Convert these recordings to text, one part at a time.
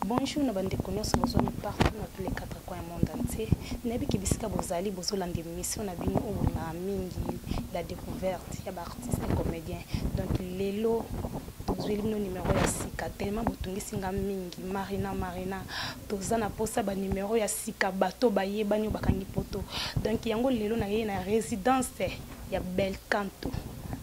Bonjour na bandeko nyonso bozwami partout na tous les quatre coins ya monde entier nayebi ke bisika bozali bozolanda émission na bino oyo na mingi la découverte ya baartiste et comédien donc lelo tozweli bino numero ya sika tellement botungisi nga mingi marina marina toza na mposa banumero ya sika bato bayebani oyo bakangi poto donc yango lelo nayei na résidence ya belcanto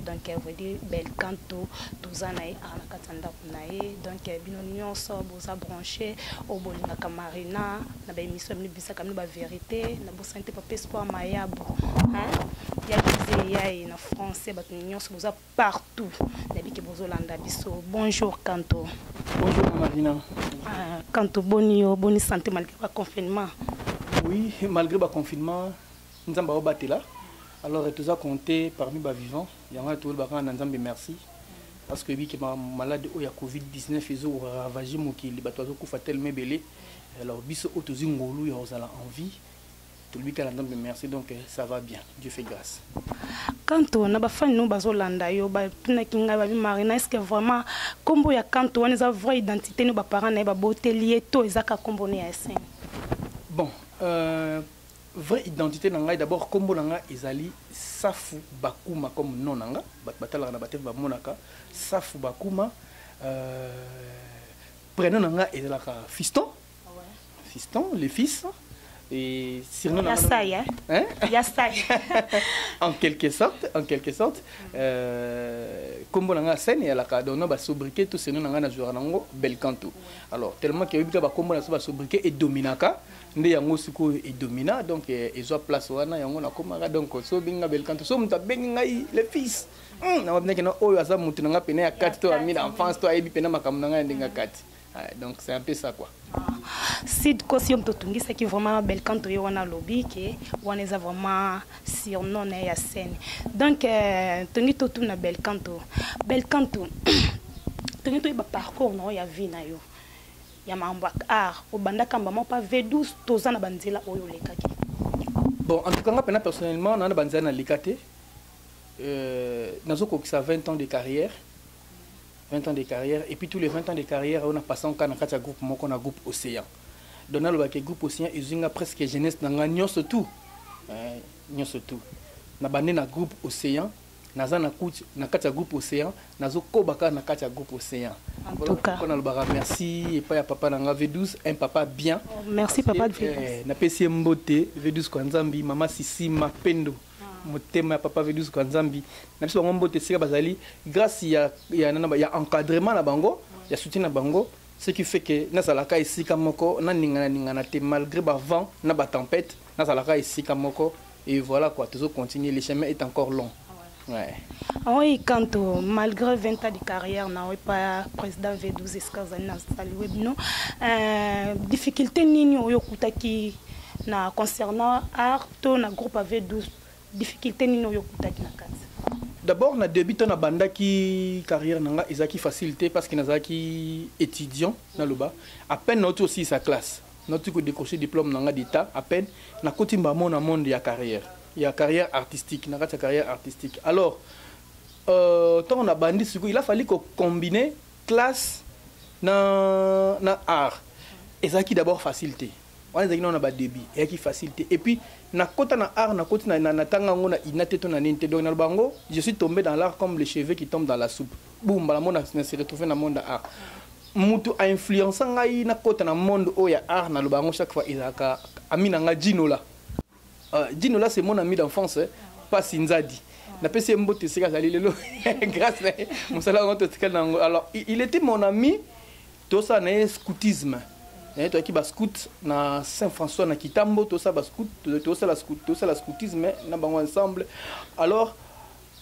donc veut dire belcanto toza na ye awa na kati ya ndako na ye donc eh, bino nyonso boza branche oyo oh, bolingaka marina na baémission bino bisaka bino baverité na bosani te papa espoir mayabo ya bize ya ye na français bato nyonso boza partout nayebi ke bozolanda biso bonjour kanto bonjour marina ah, kanto boni yo boni santé malgré baconfinement oui malgré baconfinement nzambe aobatela alors toza compte parmi bavivant yango wana toyolobaka na nzambe merci parce que biki ma malade oyo ya covid 19 ezo ravager mokili bato bazokufa telema ebele alors biso oyo tozi ngolu ya kozala en vie tolobi kaka nzambe merci donc eh, ça va bien dieu fait grâce kanto na bafani no bazolanda yo batunaki ngai babi marina estce vraiment nkombo ya kanto wana eza vraie identité no baparent na ye baboteli ye to ezaka nkombo ne ya esene bon euh... Vrai identite na ngai d'abord kombo na nga ezali Safu Bakuma comme nom na nga bat batalaka na bateve ba monaka Safu Bakuma euh, prénom na nga ezalaka Fiston Fiston le fils et surnom na nga hein ya sai en quelque sorte en quelque sorte euh, kombo na nga scène yalaka donc na ba sobriquet tout surnom na nga na joueur nango Belcanto alors tellement que yobika ba kombo na so ba sobriquet et dominaka nde yango sikoyo edomina donc eh, ezwa place wana yango nakomaka donc so obengi nga belkanto so moto abengi ngai le fils hmm, nababinaki na oyo aza moto na ngai mpena ya kati to ami na enfance to ayebi mpena makambo na ngai ya ndenge ya kati ah, donc c'est un peu ça quoi sid kosi yo moto otungisaki vraiment belkanto ye wana alobi ke wana eza vraiment surnom na ye ya scène donc euh, tongi totuna belkanto belkanto tongi toyeba parcours na yo ya vie na yo ya makambo ya art obanda kamba moko pa V12 toza na banzela oyo olekaki bon en tout cas nga pena personnellement na na banzela na leka te euh, nazo kokisa 20 ans de carrière 20 ans de carrière et puis tous les 20 ans de carrière on a passé en cas na kati ya groupe moko na groupe océan donc naloba ke groupe océan ezwi nga presque jeunesse na nga nyonso tout euh, nyonso tout na bande na groupe océan naza na kut na kati ya groupe océan nazokoba kaka na kati ya groupe océan voilà nalobaka merci epai ya papa na nga v12 un papa bien oh, merci papa eh, napesi ye mbote v12 kwa nzambi mama sisi mapendo ah. motema ya papa v12 kwa nzambi na biso bango mbote esika bazali grâce ya, ya, ya, ya encadrement na bango ya soutien na bango ce qui fait que nazalaka esika moko naningana ningana te malgré bavent na batempete nazalaka esika moko et voilà quoi tozo continuer le chemin est encore long ouais. Oui, quand euh, malgré 20 ans de carrière, na pas président V12 esika ozali na sali webino, euh, difficulté nini oyo kutaki na concernant art to na groupe V12, difficulté nini oyo kutaki na kati? D'abord na début to na bandaki carrière nanga ezaki facilité parce que nazalaki étudiant na loba à peine na aussi sa classe Nauti ko decrocher diplome na nga d'Etat à peine nakoti mbamo na monde ya carrière ya carrière artistique na kati ya carrière artistique alors euh, ntango nabandi sikoyo il a fallu ko combiner classe na, na art ezalaki d'abord facile te wana ezalaki nao na badebut eyaki facile te et puis nakota na art nakoti natanga yango na ina te to na nini te donc naloba yango je suis tombé dans l'art comme le cheveux qui tombe dans la soupe boum mbala mo na se retrouve na monde ya art mutu a influencer ngai na kota na monde oyo ya art na loba yango chaque fois ezalaka ami na ngai Ginola uh, Ginola c'est mon ami d'enfance eh? pasi nzadi napesi ye mbote esika azali lelo grâce na ye mosala yango totikali na yango alors il était mon ami tosala na ye scoutisme eh, toyaki bascout na saint françois na kitambo tosala bascout tosala scoutisme na bango ensemble alors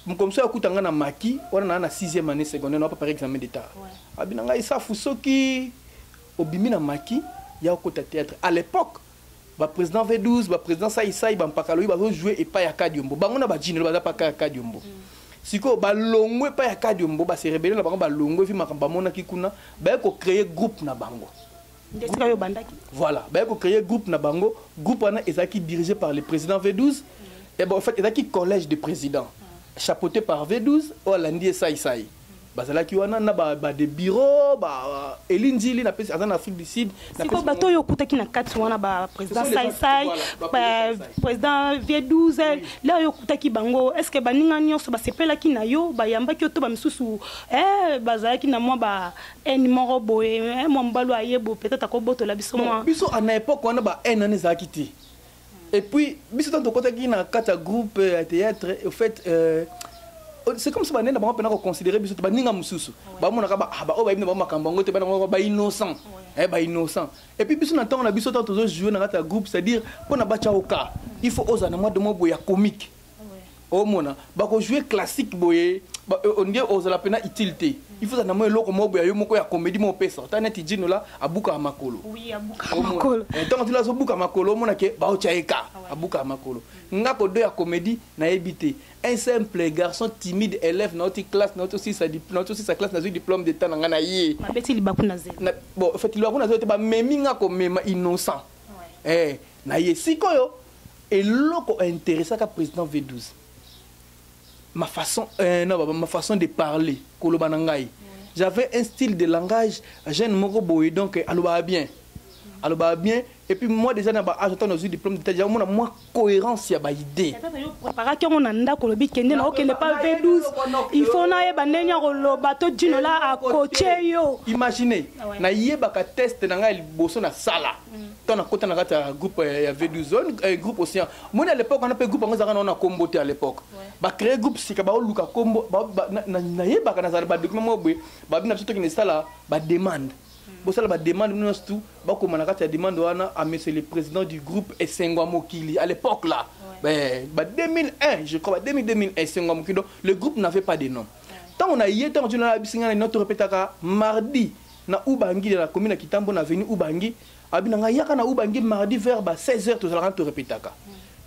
mokomiso akuta nga na maki wana naa na 6e année secondaire na prépare examen d'état abi na ngai safu soki obimi na maki ya okota théâtre à l'époque baprésident v12 baprésident saisai bampakaloyi bazojoue epai ya kadiombo bango na bajinelo baza paka ya kadiombo mm. sikoyo balongwe epai ya kadiombo baserebele na bango balongwe vi makambo bamonaki kuna baye kocreye groupe na bango esika yo obandaki voilà baye kocreye groupe na bango groupe wana ezalaki dirigé par le président v12 et bon en fait ezalaki collège de président chapeauté par v12 oyo alandi ye saisai bazalaki wana na ba, ba de bureau ba Eli Nzili na pesi aza na Afrique du Sud na siko bato oyo okutaki na kati wana ba président sai sai ba président vie 12 là oyo okutaki bango est ce que baninga nyonso basepelaki na yo bayambaki yo to bamisusu eh bazalaki na mwa ba haine moko boye eh, mwa mobali oyo aye boye peut-être akobotola biso mwa biso na epoque wana ba haine wana ezalaki te et puis biso ntango tokotaki na kati ya groupe ya théâtre au fait euh, oh, c'est comme si banene na bango mpena koconsidere biso te baninga mosusu bamonaka baoyo ah, oh, bayebi na bango makambo yango te bana bango bainnocent eh, bainnocent et puis biso na ntango na biso ntango tozojoue na kati ya groupe c'est-à-dire mpo na batya oka il faut ozala na mwa de mwa boye ya comique omona bakojoue classique boye ondie ozala mpena utile te il faut na mwa eloko moko boya yo moko ya comédie moko opesa ata neti jino la abukaka makolo ntango tila azobuka makolo omona ke baotya ye ka abukaka makolo nga kodo ya comédie nayebi te un simple garçon timide élève nauti classe nauti osisa classe nazwi diplôme de temps na nga na ye bon en fait libaku na zelo te bamemi nga komema innocent eh, na ye sikoyo eloko interesaka président v12 ma façon euh, non, ma façon de parler koloba na ngai j'avais un style de langage jeune moko boye donc alobaka bien alobaka bien et puis moi déjà na ba âge ata nazwi diplôme d'état déjà omona mwa cohérence ya baidée préparaki yango na ndako olobi kende na okende pa v12 il faut nayeba ndenge ya koloba to dino la akoche yo imagine nayebaka test na ngai liboso nasala mm. ntango nakota na kati ya groupe eh, ya v12 zone eh, groupe océan moni à l'époque wana mpe groupe yango ezalaka naona kombo te à l'époque bacree groupe sika baoluka kombo nayebaka nazala badocument moko boye babi na biso toki na esala bademande hmm. bosala bademande bino nyonso tu bakoma na kati ya demande wana a monsieur le président du groupe esengwa mokili à l'époque là ouais. ba 2001 je crois ba 2000 2001 esengwa mokili donc le groupe n'avait pas de nom ntango na ye ntango tino nayebisi ngai na nino torepetaka mardi na ubangi na commune ya kitambo na avenue ubangi abi na ngai yaka na ubangi mardi vers ba 16 heures tozalaka to repetaka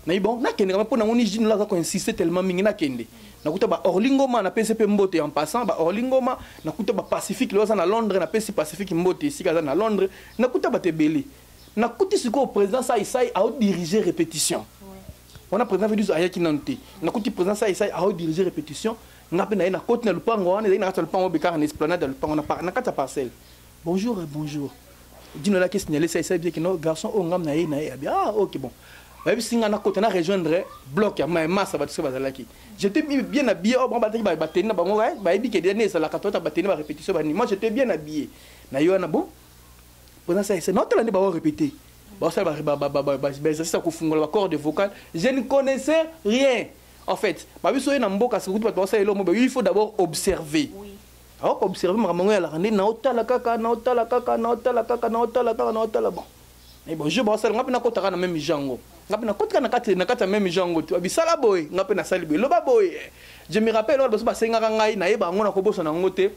nayi bon nakende kama mpo nango ni jino aza koinsiste tellement mingi nakende nakuta ba orlingoma napesi mpe mbote en passant ba orlingoma nakuta ba pacifique leo aza na londres napesi pacifique mbote esika aza na londres nakuta bato ebele nakuti sikoyo président sai sai aodirige répétition wana président vedus ayaki nanu te nakuti président sai sai aodirige répétition nga mpe naye nakoti na lupango wana ezali na kati ya lupango bekaka na esplanade ya lupango na kati ya parcelle Bonjour et bonjour. Dino la question elle essaye bien que nos garçons ont ngam na ye na ye. Ah OK bon. Bayebi singa na kota na rejoindre bloc ya ma massa ba tsoba zalaki. J'étais bien habillé au oh, bamba teki ba bateni na bango eh, bayebi que dernier ça la katota bateni ba répétition ba ni. Moi j'étais bien habillé. Na yo na bon. Pendant ça c'est notre l'année ba répéter. Ba ça ba ba ba ba ba ça ko fungola ba cordes vocales. Je ne connaissais rien. En fait, ba biso na mboka sikutu ba ça elo mo il faut d'abord observer. Oui. awa ko observe makambo yango yalaka nde naotala kaka naotala kaka naotala kaka naotala kaka naotala bon mais bon jour baosala nga mpe nakotaka na meme jango nga mpe nakotika na kati na kati ya meme jango te babisala boye nga mpe nasali boye loba boye je me rappelle wana baso basengaka ngai nayeba yango nakobosana yango te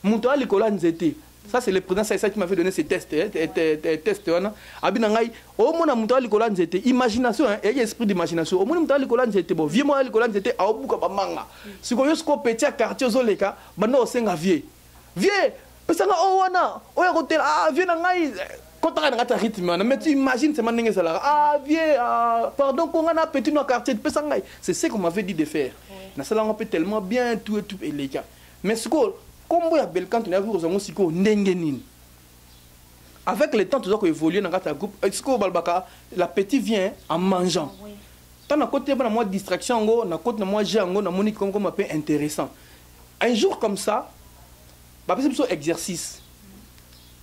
moto ya likolo ya nzete ça c'est le président ça qui m'avait donné ces tests test wana abi na ngai omona moto ya likolo ya nzete imagination eyaki esprit d'imagination omoni moto ya likolo ya nzete bo vie moya ya likolo ya nzete aobuka bamanga siko yo siko petit ya quartier ozoleka banda osenga vie vie pesanga oyo wana oyo akotela ah, vie na ngai kotaka na kati ya rythme wana mais tu imagine sema ndenge ezalaka ah vie ah, pardon konga na petit no ya quartier pesa ngai c'est ce qu'on m'avait dit de faire nasalanga mpe tellement bien tout et tout eleka mais sikoyo nkombo ya belcanto nayaki kozwa yango sikoyo ndenge nini avec le temps toza koévolue na kati ya groupe euh, sikoyo balobaka la petit vient en mangeant ah, oui. Tant na koti na mwa distraction yango, na koti na mwa jeu yango, na moni comme comme peu intéressant. Un jour comme ça, ba pesi biso exercice.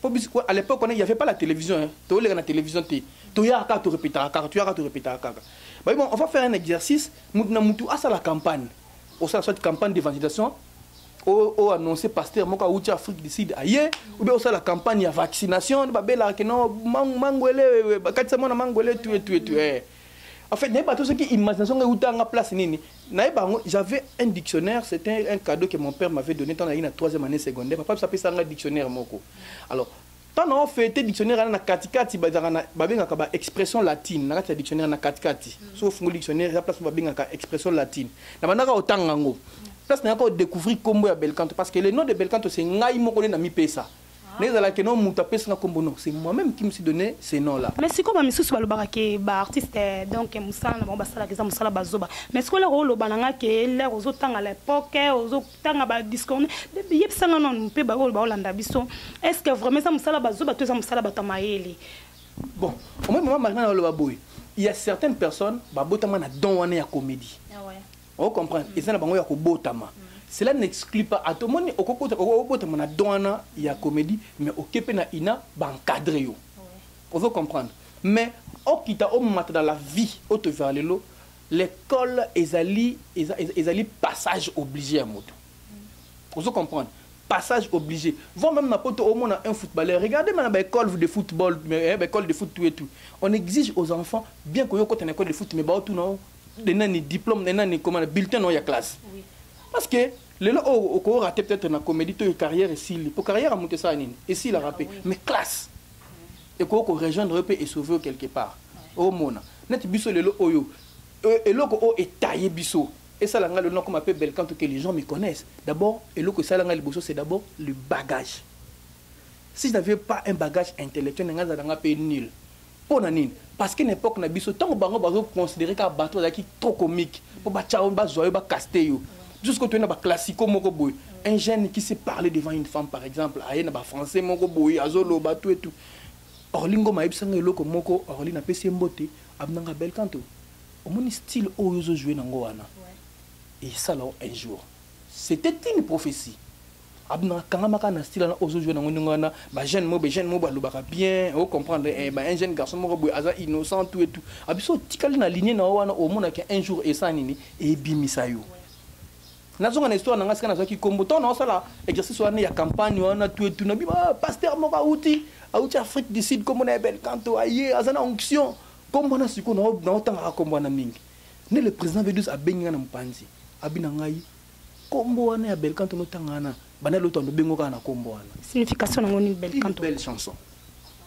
Po biso à l'époque on il y avait pas la télévision, hein. To le na télévision te. To ya ka to répéter kaka, to ya ka to répéter kaka. Ba bon, on va faire un exercice, mutu na mutu asa la campagne. Au sein de cette campagne d'évangélisation, o annoncé pasteur moko awuti afrique du sud aye obe osala campagne ya vaccination babelaka no mangwele bakatisa mwana mangwele tue tue tue En fait, nayeba tout ce qui imagination ngai utanga place nini. Nayeba ngo j'avais un dictionnaire, c'était un cadeau que mon père m'avait donné quand j'étais en 3e année secondaire. Papa ça pesa nga dictionnaire moko. Alors, tant na fêté dictionnaire na katikati bazaka na babengaka ba expression latine na kati ya dictionnaire na katikati. Mm. So fungo dictionnaire ya place babengaka expression latine. Na bandaka otanga ngo. Place na ko découvrir combo ya Belcanto parce que le nom de Belcanto c'est ngai moko na mi pesa. mais ezala ke non moto apesi nga kombo non c'est moi-même qui me suis donné ce nom là mais sikoyo bamisusu balobaka ke baartiste eh, donc mosala na bango basalaka eza mosala bazoba mais sikoyo lere oloba na nga ke lere ozotanga lepoke eh, ozotanga badiscorne yebisa nga nanu mpe baoyo baolanda biso est ce que vraiment eza mosala bazoba to eza mosala bato ya mayele bon omoi mama marina na oloba boye il y a certaines personnes babotama na don wana ya comédie ah ouais. o comprendre eza na bango ya kobotama cela n'exclut pas ata omoni okobotama na don wana ya comédie mais oke mpe na ina baencadre yo ozo comprendre mais okita omata na la vie oyo tozala lelo l'école ezali, ezali, ezali passage obligé ya moto ozo comprendre passage obligé. Voir même Mapoto au moins un footballeur. Regardez maintenant l'école de football, l'école eh, de foot tout et tout. On exige aux enfants, bien que tu aies une école de foot, mais bah, tout non, de nani diplôme de nani comment bulletin non ya classe oui. parce que lelo oyo oh, oko rater peut-être na comédie to carrière esili po carrière amutu esala nini esila rape ah, oui. mais classe mm. ekoki ko rejoindre yo mpe esauve yo quelque part omona neti biso lelo oyo euh, eloko oyo etaye biso esala ngai lelo nakoma mpe belcan to que les gens me connaissent d'abord eloko esala ngai liboso c'est d'abord le bagage si je n'avais pas un bagage intellectuel na ngai azala ngai mpe nul Mpo na nini? Parce que na epoque na biso ntango bango bazo considérer kaka bato bazalaki trop comique mpo batya yo bazwa yo bakaste yo biso sikoyo toye na baclassico moko boye un jeune qui se parle devant une femme par exemple aye na bafrançais moko boye azoloba tout et tout orli ngoma ayebisa ngai eloko moko orli napesi ye mbote abinanga bel kanto omoni style oyo ozojoue nango wana esala un jour c'était une prophétie abna kangama kaka na style wana ozo jouer nango ndenge wana ba jeune moko ba jeune moko balobaka bien o comprendre eh, ba un jeune garçon moko boye aza innocent tout et tout abiso otikali na ligne na yo wana omonaki un jour esa nini ebimisa yo nazonga na histoire na ngai sika nazwaki nkombo ntango naosala exercice wana ya campagne wana tout et tout na bima ah, pasteur moko auti auti afrique du sud nkombo na ya belcanto aye aza na onction nkombo wana sikoyo naotangaka nkombo wana mingi nde le président vedus abengi ngai na mopanzi abi na ngai Kombo wana ya Belcanto no tanga wana banda loto ando bengo kaka na kombo wana. Signification nango ni Belcanto. Belle chanson.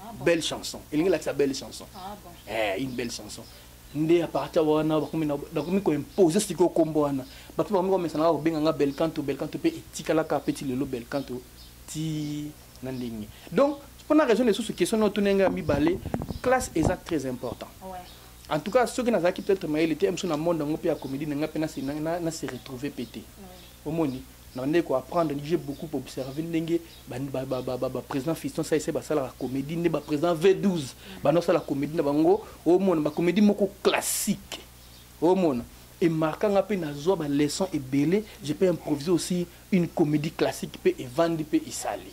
Ah belle chanson. Elingi la sa belle chanson. Ah bon. Eh une belle chanson. Nde à partir wana bakomi na bakomi ko imposer siko kombo wana. Ba pe bakomi ko mesana ko benga nga Belcanto Belcanto pe etikala ka petit lelo Belcanto ti na ndenge. Donc pour la raison de sous question no tunenga mi balé classe est très important. Ouais. en tout cas soki nazalaki peut-être mayele te biso na monde yango mpe ya comédie na ngai mpe na se retrouver mpe te omoni nabandaki koapprendre j'ai beaucoup observe ndenge baprésident fiston saise basalaka comédie nde baprésident v12 banda osala comédie na bango omona bacomédie moko classique omona emarka nga mpe nazwa baleçon ebele je peux improvise aussi une comédie classique mpe evandi mpe esali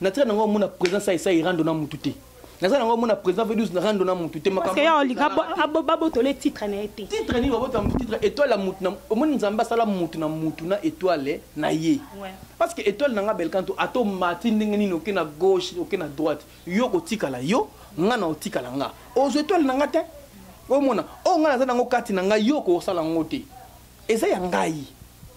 natika nango omona président saisa irando na mutu te naza nango omona président vedus na rando na mutu te makambobabotola titre na ye te titre nini babota titre étoile ya mutu omoni nzambe asala mutu na mutu na étoile na ye parce que étoile na nga belkanto ata omati ndenge nini oke na gauche oke na droite yo kotikala yo nga na otikala nga ozwa étoile na nga te omona oyo oh, nga naza nango kati na ngai yo okosala yango te eza ya ngai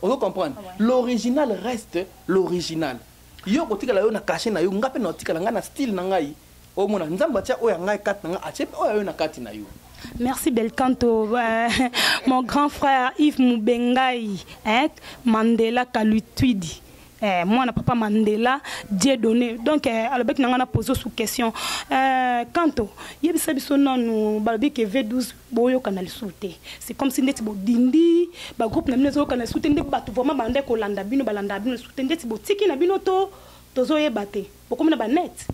ozo comprendre ah l'original reste l'original yo okotikala yo na kashe na yo ngai mpe naotikala ngai na style na ngai omona nzambe atya oyo ya ngai kati na ngai atye mpe oyo ayo na kati na yo Merci Belcanto, euh, mon grand frère Yves Moubengaï, hein, Mandela Kalutuidi. Eh, moi, papa Mandela, Dieu donné. Donc, eh, alors, bec, n'a pas posé sous question. Euh, Kanto, il y a des gens qui sont dans le V12 boyokana lisusu te c'est comme si ndeti bodindi bagroupe na bino ezoyokana lisusu te nde bato vraiment banda kolanda bino balandaka bino lisusu te ndeti botiki na bino to tozoyeba te bokomi na banete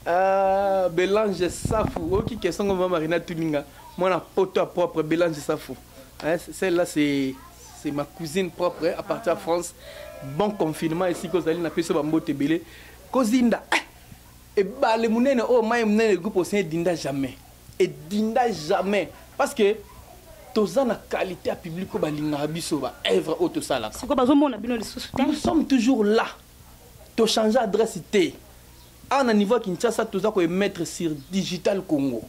ah, belange safu oyoki question ngo mama marina tuninga mwana poto ya propre belange safu hein, celle là c'est c'est ma cousine propre hein, à partir ya ah. france bon confinement esika ozali napesi yo bambote ebele kozinda eh! ebale monene oyo mai monene egroupe ocean edinda jamais edinda jamais parce que toza na qualité ya public oyo balingaka biso ba œuvre oyo tosalaka siko bazomona bino lisusu te nous sommes toujours là tochange adresse te awa na niveau ya kinshasa toza koemettre sur digital congo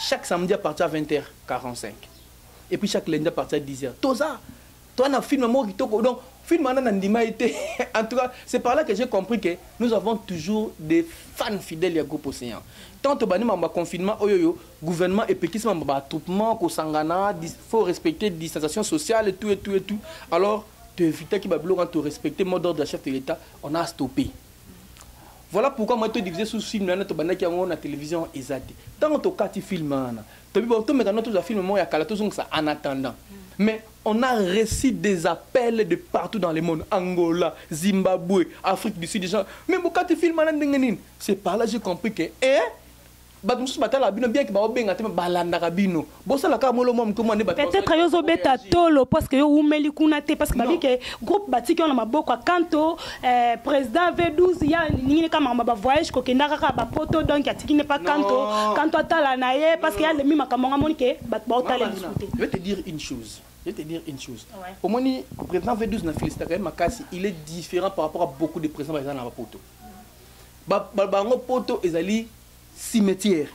chaque samedi à partir ya 20 h 45 et puis chaque lundi à partir ya 10 h toza Toi na film moko kitoko donc film wana na ndima ye te en tout cas c'est par là que j'ai compris que nous avons toujours des fans fidèles ya groupe océan tant tobandi mambo ya confinement oyo oyo gouvernement epekisi mambo ba attroupement kosangana faut respecter distanciation sociale tout et tout et tout alors toevitaki babiloko wana torespecte mot d'ordre ya chef de l'état on a stoppé voilà pourquoi moi to divisé sous film wana tobandaki yango na télévision eza te ntango tokati film wana tobi tomekana tozwa film moko ya kala tozongisa en attendant mais On a reçu des appels de partout dans le monde, Angola, Zimbabwe, Afrique du Sud, des gens. Mais Bokati film na ndenge nini? C'est par là j'ai compris que eh bato mosusu batalaka bino bien ke baobenga te balandaka bino bosalaka molo mwa moke mwa nde peut-être yo ozobeta tolo parce que yo umeli kuna te parce que babi ke groupe batiki yo na maboko ya kanto Eh, président V12 ya nini kama makambo ba voyage kokenda kaka ba poto donc atiki ne pas kanto kanto atala na ye parce que ya lemi makambo nga moni ke bato baotala lisusu te je vais te dire une chose je vais te dire une chose ouais. omoni président V12 na félicita quand même makasi il est différent par rapport à beaucoup de présidents baza na ba poto ba bango poto ezali cimetière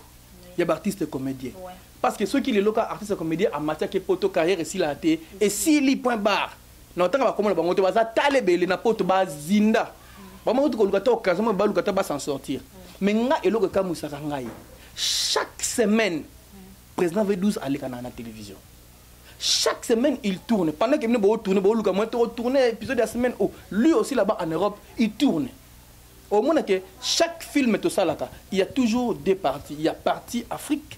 ya ba artiste comédien ouais. parce que soki lelo ka artiste comédien amatiaki poto carrière esilaka te esili point barre na otanga bakoma na bango te baza tala ebele na poto bazinda bango bakuti koluka ta occasion moye baluka ta basan sortir mais nga eloko ekamwisaka ngai chaque semaine président v12 alekanaka na télévision chaque semaine il tourne pendant que bino bootourne booluka moyen to otourne épisode ya semaine o oh, lui aussi là-bas en europe il tourne omona ke chaque film tosalaka il y a toujours deux parties il y a partie afrique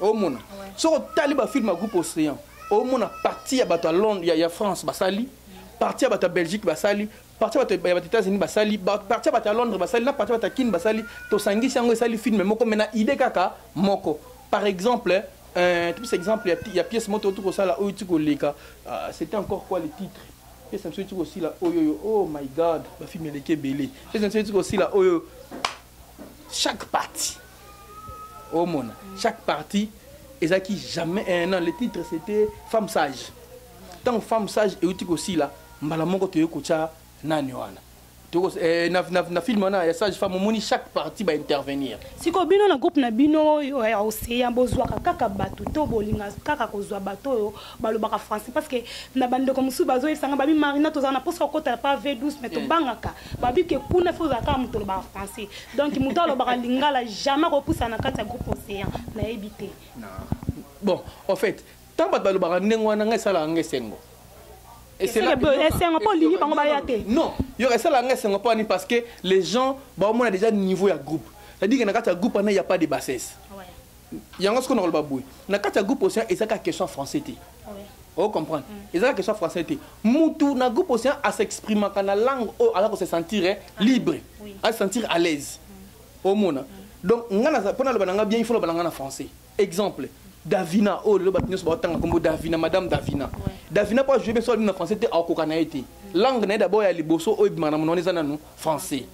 omona soki otali bafilme ya groupe océan omona parti ya bato ya londre ya, ya france basali parti ya bato ya belgique basali parti ya bato ya bato états-unis basali parti ya bato ya londres basali na parti ya bato ya kine basali tosangisi yango esali filme moko me na idée kaka moko par exemple euh, topesa exemple ya, ya pièce moto oti kosala oyo ti koleka uh, c'était encore quoi le titre pièce na biso eti kosila oyoyo oh my god bafilme eleki ebele pièce na biso eti kosila oyo chaque partie omona chaque partie ezalaki jamais eh, non le titre c'était femme sage ntango femme sage euti kosila mbala moko toyei kotya nani wana eh, na, na, na film wana ya sage femme omoni chaque partie baintervenir sikoyo bino na groupe na bino oyo ya ocean bozwaka kaka bato to bolinga kaka kozwa bato oyo balobaka français parce que na bandeko mosusu bazoyebisa nga babi marina tozala na mposa kokota pa v douce mais tobangaka babi ke kuna fo ozala kaka moto olobaka français donc moto alobaka lingala jamais akopusa na kati ya groupe océan nayebi te bon en fait ntango bato balobaka ndenge wana ngai esalaka nga esengo esengo mpo olingi bango baya te non yo esalaka nga esengo mpo ani parce que les gens baomona déjà niveau ya groupe c'est-à-dire que na kati ya groupe wana ya pas de bassesse yango sikoyo nakoloba boye na kati ya groupe océan ezaka question français te o comprendre mm. ezaka question français te mutu na groupe océan asexprimaka na langue oyo aza kose sentir eh, ah, libre ase sentir à l'aise mm. omona mm. donc ngai mpo naloba na ngai bien ifo loba na ngai na français exemple davina oyo oh, lelo bato nyonso baotanga nkombo davina madame davina davina mpo ajoue bien so alobi na français te akokoka na ye te langue na ye dabord ya liboso oyo ebimaka na monwana eza nanu français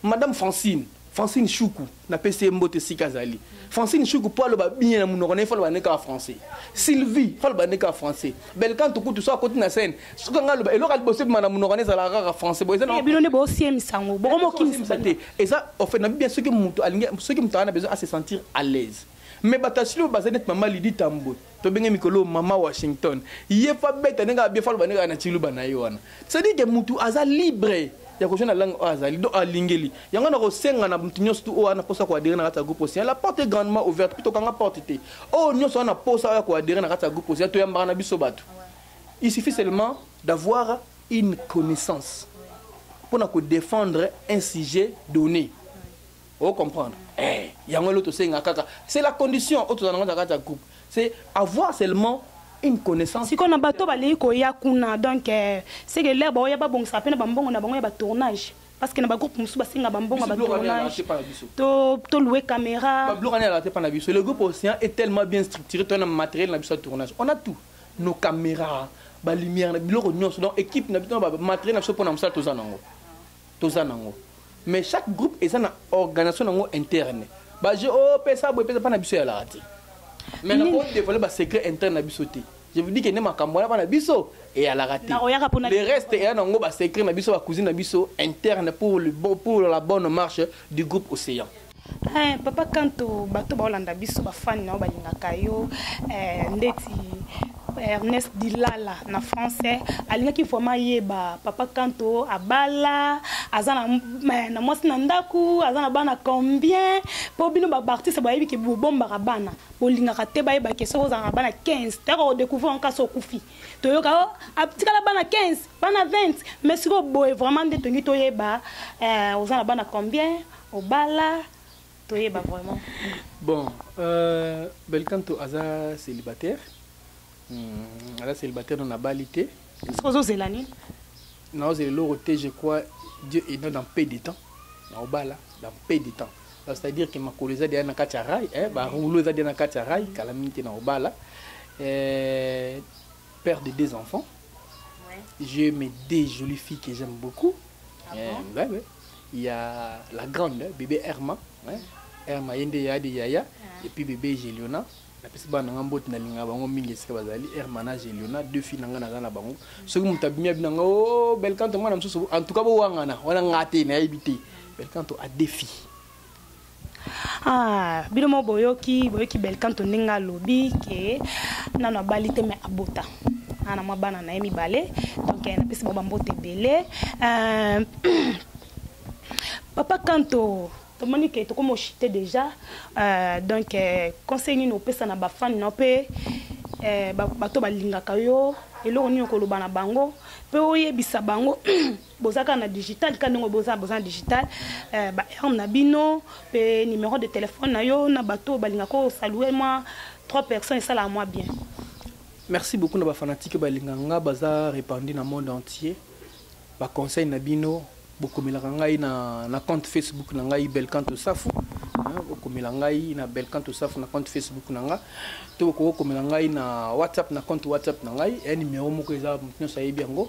madame francine Francine Shuku na pesi ye mbote esika azali Francine Shuku mpo aloba bien na monoko na ye fo aloba nde kaka français Sylvie fo aloba nde kaka français Belcanto kutu so akoti na scène soki anga aloba eloko ya liboso ebima na monoko na ezalaka kaka français boye eza na eh, bino nde boosiemisa yango bokomokimisa te eza ofe na bibia soki moto alingi soki moto aza na besoin a se sentir à l'aise mais bato ya silo baza neti mama lidi tambwe tobenge mikolo mama washington ye fa beta ndenge abie fa loba ndenge na ciluba na ye wana cestadire ke mutu aza libre ya kozwa na langue oyo azali donc alingeli yango nakosenga na motu nyonso tu oyo wana mposa koadere na kati ya groupe ocean la porte est grandement ouverte mpe tokanga porte te oyo nyonso wana mposa oya koadere na kati ya groupe ocean toyambaka na biso bato il suffit seulement d'avoir une connaissance mpo na kodefendre un sujet donné o comprendre eh yango elo tosenga kaka c'est la condition oyo tozala nango na kati ya groupe c'est avoir seulement une connaissance sikoyo na bato balei koya kuna donc eh, c'est que lere baoya babongisa mpe na bambongo na bango ya batournage parce que na bagroupe mosusu basenga bambongo ya batournage tolue caméra le groupe océan est tellement bien structuré toya na matériel na biso ya tournage on a tout nos caméras balumière na biloko nyonso donc équipe na biso matériel na biso mpo na mosala toza nango toza nango mais chaque groupe eza na organisation nango interne baje opesa oh, boye pesa mpa na biso eyalaka te mais nako dévoile basecret interne na biso te je vous dis que nde makambo wana mpa na biso eyalaka te le reste eya nango basecret na biso bacousine na biso interne pour, le bon, pour la bonne marche du groupe océan Eh, papa kanto bato baolanda biso bafani na yo balingaka yo eh, ndeti eh, ernest dilala na français alingaki vraiment yeba papa kanto abala aza na, eh, na mwasi na ndako aza na bana combien mpo bino baartiste bayebi ke bobombaka bana bolingaka te bayeba ke soki ozala na bana 15 tayaka kodécouvrir anka so okufi toyoka o oh, atikala bana 15 bana 20 mais sikoyo boye vraiment nde tongi toyeba eh, oza na bana combien obala toyeba vraiment bon euh, belcanto aza célibataire hmm, aza célibataire no nabali te soki ozozela nini naozela eloko te je crois dieu est dans peu de temps naobala dans peu de temps c'est-à-dire que makolo eza deya na kati ya rai eh, baroulo eza deya na kati ya rai kala mingi te naobala eh, père de deux enfants ouais. j'ai mes deux jolies filles que j'aime beaucoup ah eh, bon? ouais, ouais. il y a la grande bébé Herma ouais. Herma yende ya de yaya ah. et puis bébé Geliona napesi bana nanga mbote nalinga bango mingi esika bazali herma na geliona deux filles nanga naza na bango soki moto abimi abina nga o oh, belkanto mwana mosusu en tout cas bowangana wana nga te nayebi te belkanto a deux filles Ah, bino mo boyoki boyoki belkanto ndenge alobi ke nano abali te me abota ana ah, mwa bana na ye mibale donc eh, napesi bango bambote ebele euh, papa kanto tomoni ke tokoma ochite déjà euh, donc eh, conseil nini opesa na bafani na mpe eh, bato balingaka yo eloko nini okoloba na bango mpe oyebisa bango boza kaka na digital kaka ndenge boza boza na digital eh, ba arme na bino mpe numero de telefone na yo na bato balinga kosalue mwa trois personnes esalaka mwa bien merci beaucoup na bafanatike balinga nga baza répandi na monde entier baconseil na bino bokomelaka ngai na, na compte facebook na ngai belcanto safu bokomela ngai na belcanto safu na compte facebook na nga to bokoki kokomela ngai na whatsapp na compte whatsapp na ngai ya numero moko eza moto nyonso ayebi yango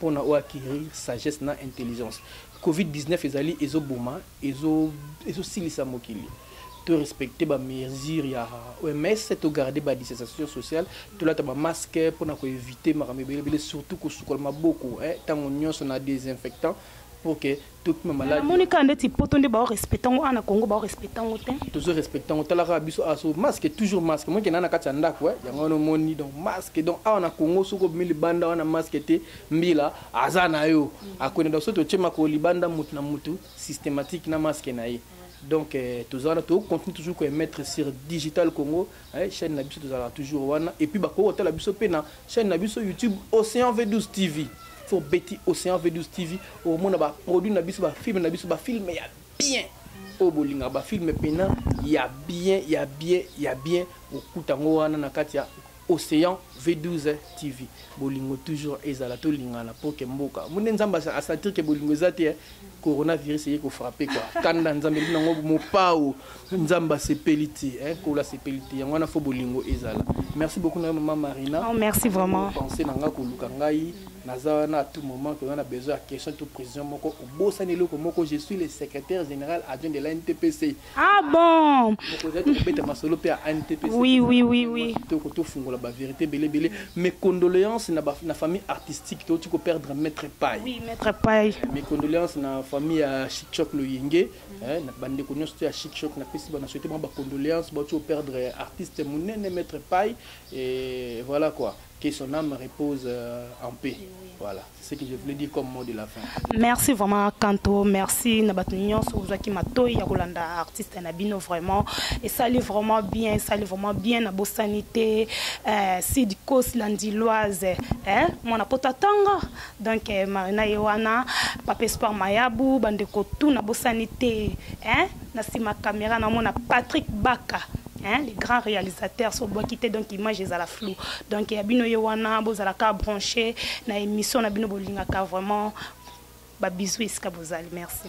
pona o acquerir sagesse na intelligence covid 19 ezali ezo boma ezo ezo silisa mokili to respecter ba mesures ya OMS to garder ba distanciation sociale to lata ba masque pona ko éviter makambo ebele ebele surtout ko sukola maboko eh tango nyonso na désinfectant pour que tokima malade namoni kaka ndeti poto nde bao respecta yango ana congo bao respecta yango te tozo respecta yango tala kaka biso aso ah, masque toujours masque moke na na kati ya ndako eh. yango wana omoni donc masque donc awa na congo soki obimi libanda wana masque te mbila aza na yo akwende donc soki totie makolo libanda motu na motu systématique na masque na ye donc eh, toza wana tokocontinue toujours koemettre sur digital congo eh, chaîne na biso tozalaka toujours wana et puis bakoki kotala biso mpe na chaîne na biso youtube océan v12 tv so obeti océan v12 tv okomona baproduit na biso bafilme na biso bafilme ya bien oyo bolingaka bafilme mpena ya bien ya bien ya bien okuta yango wana na kati ya océan v12 tv bolingo toujours ezala tolingana mpo ke mboka mone nzambe asatir ke bolingo eza te eh. coronavirus eye kofrape kua kanda nzambe ebi nango mopao nzambe asepeli te eh, nkolo asepeli te yango wana fo bolingo ezala merci beaucoup na yo mama marina oh, merci vraiment pense na ngai koluka ngai naza wana à tout moment toza na besoin ya question to président moko obosani eloko moko je suis le secrétaire général adjoint de la ntpc Ah bon Oui, oui, oui, oui. tofungola ba vérité belé belé mes condoléances na ba, na famille artistique to tu perdre maître Pai. Oui, maître Pai. Mes condoléances na famille à Chichok le Yenge, hein, na bande ko nyoso ya Chichok na pesi ba na souhaiter ba condoléances ba tu perdre artiste munene maître Pai et voilà quoi. Que son âme repose euh, en paix. Voilà, c'est ce que je voulais dire comme mot de la fin. Merci vraiment Kanto, merci na bato nyonso ozwaki matoi ya kolanda artiste na bino vraiment. Esali vraiment bien, esali vraiment bien na bosani te. Euh, Sid Kos Landiloise, hein, mwana poto atanga. Donc eh, Marina Yewana, Papa Espoir Mayabu, bande ko tout na bosani te, hein. na sima camera na mona Patrick Baka hein, les grands réalisateurs sont bon quitté donc image est à la flou donc ya bino ye wana bozala ka branché na émission na bino bolingaka vraiment ba bisous esika bozali merci